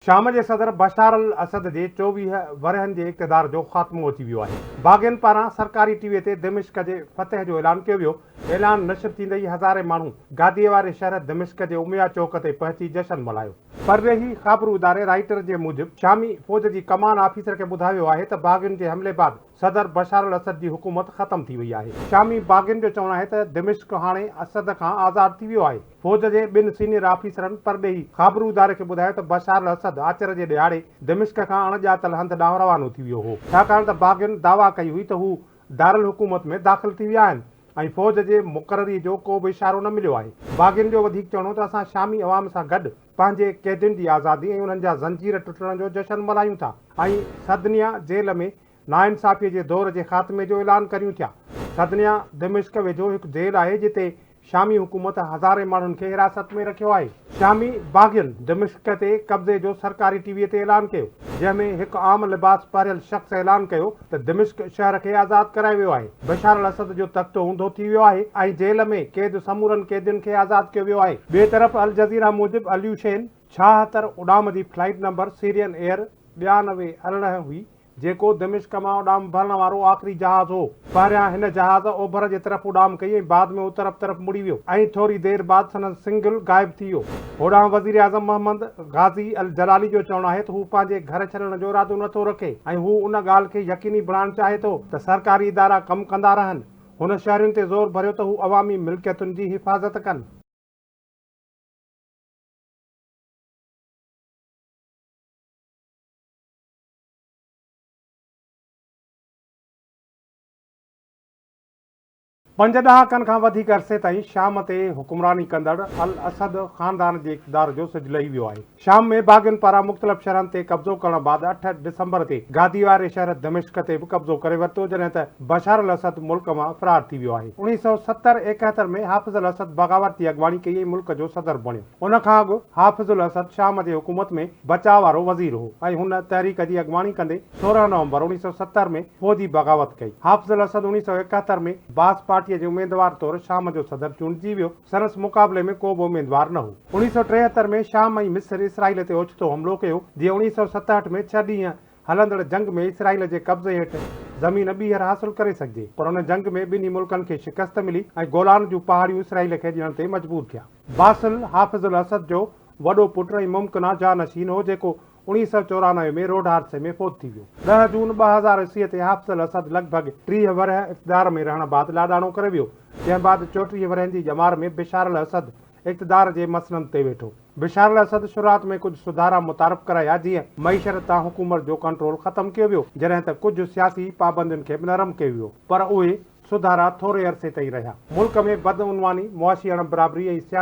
شام جي صدر Bashar al Assad جي چوويهه ورهين جي اقتدار جو خاتمو اچي ويو آهي. باغين پاران سرڪاري ٽي وي تي دمشق جي فتح جو اعلان ڪيو ويو. اعلان نشر ٿيندي ئي هزارين ماڻهو گاديء واري شهر دمشق جي اميه چوڪ تي پهچي جشن ملهايو. پرڏيهي خابرو اداري رائٽر جي موجب شامي فوج جي ڪمان آفيسر کي ٻڌايو ويو آهي ته باغين جي حملي بعد صدر بشار الاسد جي حڪومت ختم ٿي وئي آهي. شامي باغين جو چوڻ آهي ته دمشق هاڻي اسد کان آزاد ٿي ويو آهي. فوج جي ٻن سينيئر آفيسرن پرڏيهي خابرو اداري کي ٻڌايو ته بشار الاسد آچر جي ڏهاڙي دمشق کان اڻ ڄاتل هنڌ ڏانهن روانو ٿي ويو هو، ڇاڪاڻ ته باغين دعويٰ ڪئي هئي ته هو دارالحڪومت ۾ داخل ٿي ويا آهن ۽ فوج جي مقرري جو ڪو به اشارو نه مليو آهي. باغين جو وڌيڪ چوڻ هو ته اسان شامي عوام سان گڏ پنهنجي قيدين جي آزادي ۽ انهن جا زنجير ٽٽڻ جو جشن ملهايون ٿا ۽ سدنيا جيل ۾ ناانصافي جي دور جي خاتمي جو اعلان ڪريون ٿيا. سدنيا دمشق ويجهو هڪ جيل آهي جتي شامي حڪومت هزارين ماڻهن کي حراست ۾ رکيو آهي. شامي باغين دمشق تي قبضي جو سرڪاري ٽي وي تي اعلان ڪيو، جنهن ۾ هڪ عام لباس پهريل شخص اعلان ڪيو ته دمشق شهر کي آزاد ڪرايو ويو آهي، بشار الاسد جو تخت اونڌو ٿي ويو آهي ۽ جيل ۾ قيد سمورن قيدين کي آزاد ڪيو ويو آهي. ٻئي طرف الجزيره موجب اليوشين ڇاهتر اڏام جي فلائيٽ نمبر سيرين ايئر ٻيانوي ارڙهن هئي، جيڪو دمشق مان اڏام ڀرڻ وارو آخري جهاز هو. پهريان هن جهاز اوڀر جي طرف اڏام ڪئي ۽ بعد ۾ اترپ طرف مڙي ويو ۽ ٿوري دير بعد سندس سنگل غائب ٿي ويو. هوڏانهن وزيراعظم محمد غازي الجلالي جو چوڻ آهي ته هو پنهنجي گهر ڇڏڻ جو ارادو نه ٿو رکي ۽ هو ان ڳالهه کي يقيني بڻائڻ چاهي ٿو ته سرڪاري ادارا ڪم ڪندا رهن. هن شهرين تي زور ڀريو ته هو عوامي ملڪيتن جي حفاظت ڪن. پنج ڏهاڪن کان وڌيڪ عرصي تائين شام تي حڪمراني ڪندڙ الاسد خاندان جي اقتدار جو سج لهي ويو آهي. شام ۾ باغين پاران مختلف شهرن تي قبضو ڪرڻ بعد اٺ ڊسمبر تي گادي واري شهر دمشق تي به قبضو ڪري ورتو جڏهن ته بشار الاسد ملڪ مان فرار ٿي ويو آهي. اڻيهه سؤ ستر ايڪهتر ۾ حافظ الاسد بغاوت جي اڳواڻي ڪئي ۽ ملڪ جو صدر بڻيو. ان کان اڳ حافظ الاسد شام جي حڪومت ۾ بچاء وارو وزير هو ۽ هن تحريڪ جي اڳواڻي ڪندي سورهن نومبر اوڻيهه سؤ ستر ۾ فوجي بغاوت ڪئي. حافظ الاسد اوڻيهه سؤ ايڪهتر ۾ باث پارٽيء جي اميدوار طور شام جو صدر چونڊجي ويو. سنس مقابلي ۾ ڪو به اميدوار نه هو. اوڻيهه سؤ ٽيهتر ۾ شام ۽ مصر اسرائيل تي اوچتو حملو ڪيو، جيئن اوڻيهه سؤ ستهٺ ۾ ڇهه ڏينهن هلندڙ جنگ ۾ اسرائيل جي قبضي هيٺ زمين ٻيهر حاصل ڪري سگهجي پر ان جنگ ۾ ٻنهي ملڪن کي شڪست ملي ۽ گولان جون پهاڙيون اسرائيل کي ڏيڻ تي مجبور ٿيا. باسل حافظ الاسد جو وڏو پٽ ۽ ممڪنا جانشين هو جيڪو اڻيهه سؤ چورانوي ۾ روڊ حادثي ۾ فوت ٿي ويو. ڏهه جون ٻه هزار عيسويء تي حافظ الاسد لڳ ڀڳ ٽيهه ورهيه اقتدار ۾ رهڻ بعد لاڏاڻو ڪري ويو جنهن بعد چوٽيهه ورهين جي ڄمار ۾ بشار الاسد اقتدار جي مسند تي ويٺو. بشار الاسد شروعات ۾ ڪجهه سڌارا متعارف ڪرايا جيئن معيشرت تان حڪومت جو ڪنٽرول ختم ڪيو ويو جڏهن ته ڪجهه سياسي پابندين کي به نرم ڪيو ويو پر اهي سڌارا ٿوري عرصي تائين رهيا. ملڪ ۾ بدعنواني، معاشي اڻبرابري ۽ سياسي